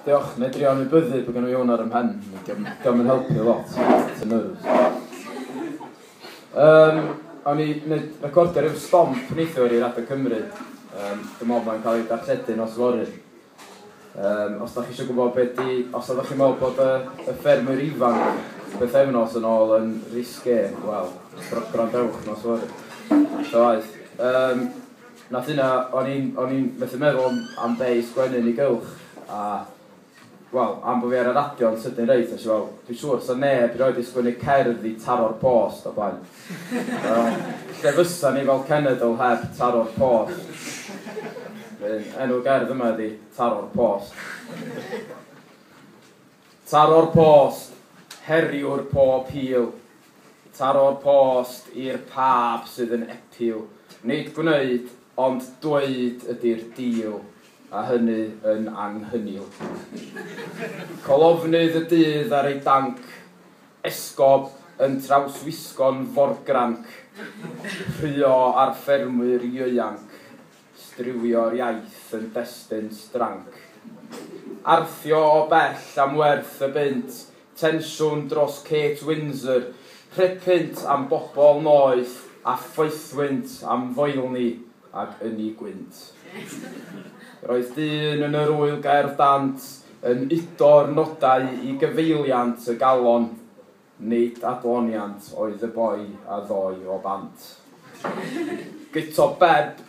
Diolch, neu drio anwybyddu bod gynno i hwn ar ym mhen, diolch yn helpu lot, it's a nerves. Um, o'n i wneud recordio rhyw stomp neithiwr i Radio Cymru, um, dwi'n meddwl mae'n cael ei darlledu nos fory. Um, os da chi eisiau gwybod beth di, os da chi'n meddwl bod y, y ffermwyr ifanc beth efnos yn ôl yn risge, wel, gwrandewch nos fory. So aeth. Um, Nath hynna, o'n i'n o'n i'n methu meddwl am am be' i sgwennu yn ei gylch a wel, am bo' fi ar y radio yn sydyn reit, nes i wel, dwi siŵr sa neb rioed di sgwennu cerdd i taro'r post o blaen. Wel, lle fysan ni fel cenedl heb taro'r post? Wedyn, enw'r gerdd yma ydi Taro'r Post. Taro'r post, heriwr pob hil. Taro'r post i'r pab sydd yn epil, nid gwneud, ond dweud ydy'r deal, a hynny yn anghynnil. Colofnydd y dydd ar ei danc, esgob yn trawswisgo'n forgranc, rhuo ar ffermwyr ieuanc, striwio'r iaith yn destun stranc. Arthio o bell am werth y bunt, Tensiwn dros Kate Windsor, rhepynt am bobl noeth a phoethwynt am foelni ag ynni gwynt. Yr oedd dyn yn yr Ŵyl Gaerdant yn udo'r nodau i gyfeiliant y galon, nid adloniant oedd y boi a ddôi o bant. Guto Bebb,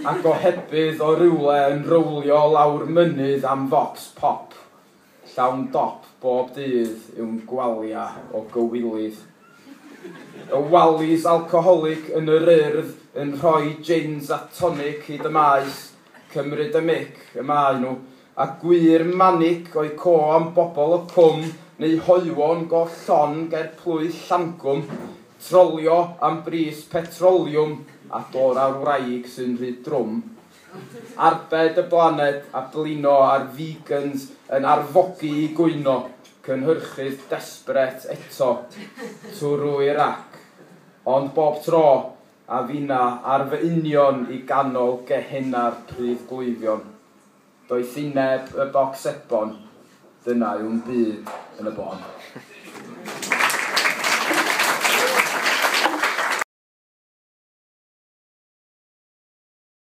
a gohebydd o rywle yn rowlio lawr mynydd am focs pop. Llawn dop bob dydd yw'n gwalia o gywilydd. Y wallies alcoholic yn yr Urdd yn rhoi jins a tonic hyd y maes, cymryd y mic y maen nhw, a gwir manic o'u co am bobl o Cwm neu Hoywon go llon ger plwyf Llangwm, trolio am bris petroliwm a dor â'r wraig sy'n rhy drwm. Arbed y blaned a blino a'r vegans yn arfogi i gwyno, cynhyrchydd desperate eto, twrw i'r rac. Ond bob tro, a finna ar fy union i ganol gehenna'r pridd gleifion. Doethineb y boc sebon, dyna yw'm byd yn y bôn.